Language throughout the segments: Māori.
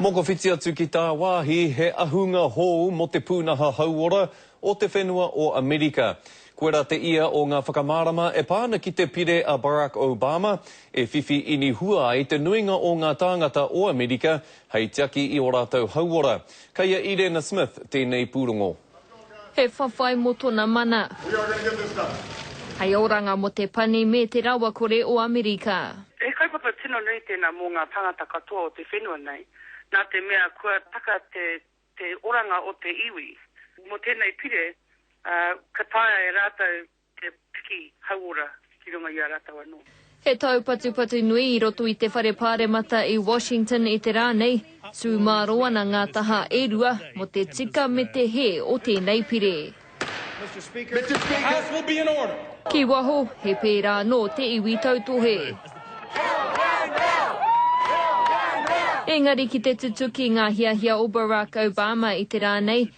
Mokowhiti atu ki tāwāhi, he ahunga hou mō te pūnaha hauora o te whenua o Amerika. Koirā te ia o ngā whakamārama e pā ana ki te Pire a Barack Obama, e whiwhi inihua ai te nuinga o ngā tāngata o Amerika hei tiaki i ō rātou hauora. Kei a Irena Smith tēnei pūrongo. He whawhai mo tona mana. Hei oranga mo te pani me te rawakore o Amerika. He kaupapa tino nui tēnā mō ngā tāngata katoa o te whenua nei, nā te mea kua taka te te oranga o te iwi. Mō tēnei pire, ka taea e rātou Te piki hauora ki runga i a ratou ano. He taupatupatu nui i roto i te whare paremata i Washington i te rā nei, tū mārō ana ngā taha e rua mō te tika me te hē o tēnei pire. Mr Speaker, the house will be in order. Ki waho, he pērā anō te iwi tautohe. Engari ki te tutuki ngā hiahia o Barack Obama i te rā nei,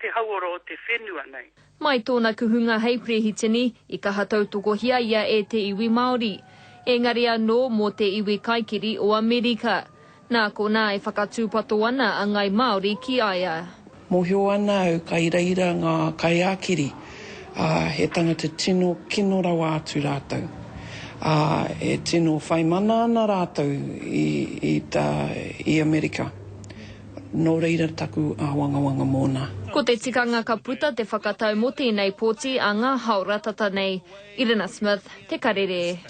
te hauora o te whenua nei. Mai tōna kuhunga hei Perehitini, i kaha tautokohia ia e te iwi Māori. Ēngari anō, mō te iwi kaikiri o Amerika. Nā konā e whakatūpato ana a Ngāi Māori ki a ia. Mōhio ana au ka iraira ngā kaiākiri, ā, he tangata tino kino rawa atu rātou. Ā, e tino whai mana ana rātou i, i, i Amerika. Nō reira taku āwangawanga mōna. Ko te tikanga ka puta te whakatau mō tēnei pōti a ngā hao ratata nei. Irina Smith, Te Karere.